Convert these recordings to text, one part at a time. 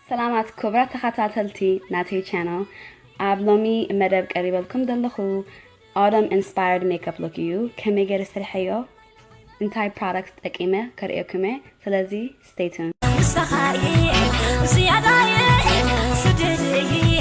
ሰላማት ክብራት ተኸታተልቲ ናተይ ቻነል ኣብ ሎሚ መደብ ቀሪበልኩም ዘለኹ ኣውደም ኢንስፓየርድ ሜክኣፕ ሉክ እዩ ከመይ ገይረ ስርሐዮ እንታይ ፕሮዳክት ጠቂመ ከርእየኩም እየ ስለዚ ስቴይ ቱን ንስኻ'የ ዝያዳ'የ ስድድ'የ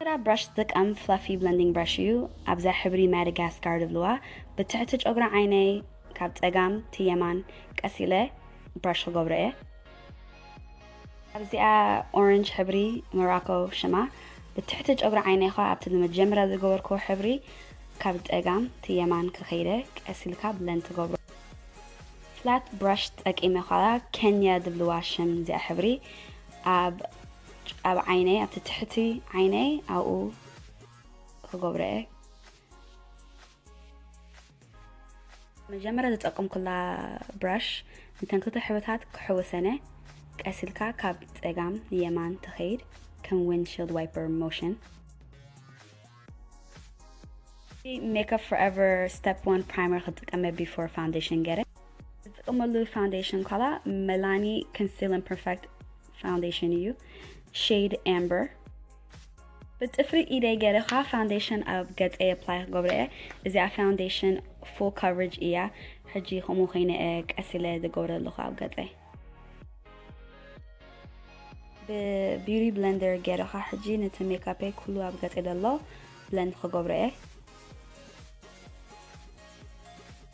Mera Brush ዝጥቀም Fluffy Blending Brush እዩ ኣብዛ ሕብሪ Madagascar ዝብልዋ ብትሕቲ ጨጉሪ ዓይነይ ካብ ጸጋም ቲ የማን ቀስ ኢለ Brush ክገብሮ እየ። ኣብዚኣ Orange ሕብሪ Morocco ሽማ ብትሕቲ ጨጉሪ ዓይነይ ከኣ ኣብቲ ንመጀመርያ ዝገበርክዎ ሕብሪ ካብ ጸጋም ቲ የማን ክኸይደ ቀስ ኢልካ Blend ትገብሮ። Flat Brush ተጠቂመ ከኣ Kenya ዝብልዋ ሽም እዚኣ ሕብሪ ኣብ ኣብ ዓይነይ ኣብቲ ትሕቲ ዓይነይ ኣብኡ ክገብሮ እየ መጀመርያ ዝጠቀምኩላ ብራሽ ንተን ክልተ ሕብርታት ክሕውሰነ ቀስ ኢልካ ካብ ፀጋም ንየማን ተኸይድ ከም ዊንድሽልድ ዋይፐር ሞሽን ሜክፕ ፎርኤቨር ስቴፕ ዋን ፕራይመር ክጥቀመ ቢፎር ፋውንዴሽን ገረ ዝጥቀመሉ ፋውንዴሽን ኳላ መላኒ ኮንሲልን ፐርፌክት ፋውንዴሽን እዩ ሼድ ኣምበር ብፅፍሪ ኢደይ ገይረ ከዓ ፋውንዴሽን ኣብ ገፀ የፕላይ ክገብረ እየ እዚኣ ፋውንዴሽን ፉል ካቨሬጅ እያ ሕጂ ከምኡ ኮይነ ቀስ ኢለ ዝገብረ ኣለኹ ኣብ ገፀይ ብቢሪ ብለንደር ገይረ ከዓ ሕጂ ነቲ ሜካፐይ ኩሉ ኣብ ገፀይ ዘሎ ብለንድ ክገብረ እየ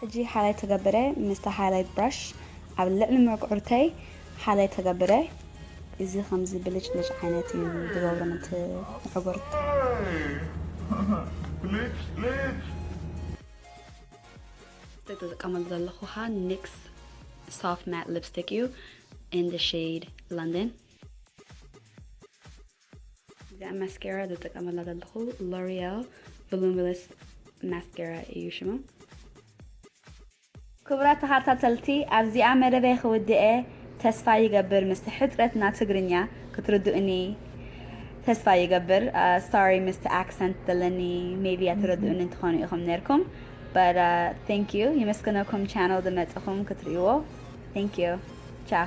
ሕጂ ሓላይ ተገብረ ምስታ ሃይላይት ብራሽ ኣብ ልዕሊ ምዕጉርተይ ሓላይ ተገብረ እዚ ከምዚ ብልጭልጭ ዓይነት እዩ ዝገብሮ ነቲ ምዕጉርት። እቲ ዝጥቀመሉ ዘለኹ ከኣ NYX Soft Matte Lipstick እዩ in the shade London። እዚኣ ማስኬራ ዝጥቀመላ ዘለኹ ሎሪያል ቮሉሚለስ ማስኬራ እዩ ሽማ። ክቡራት ተኻታተልቲ ኣብዚኣ መደበይ ክውድኤ ተስፋ ይገብር ምስቲ ሕጽረት ና ትግርኛ ክትርድኡኒ ተስፋ ይገብር ሶሪ ምስቲ ኣክሰንት ዘለኒ ሜቢ ኣትረድኡኒ ትኾኑ ኢኹም ነርኩም but uh, thank you ይመስገነኩም ቻነል ዝመጽኹም ክትርእይዎ thank you ቻው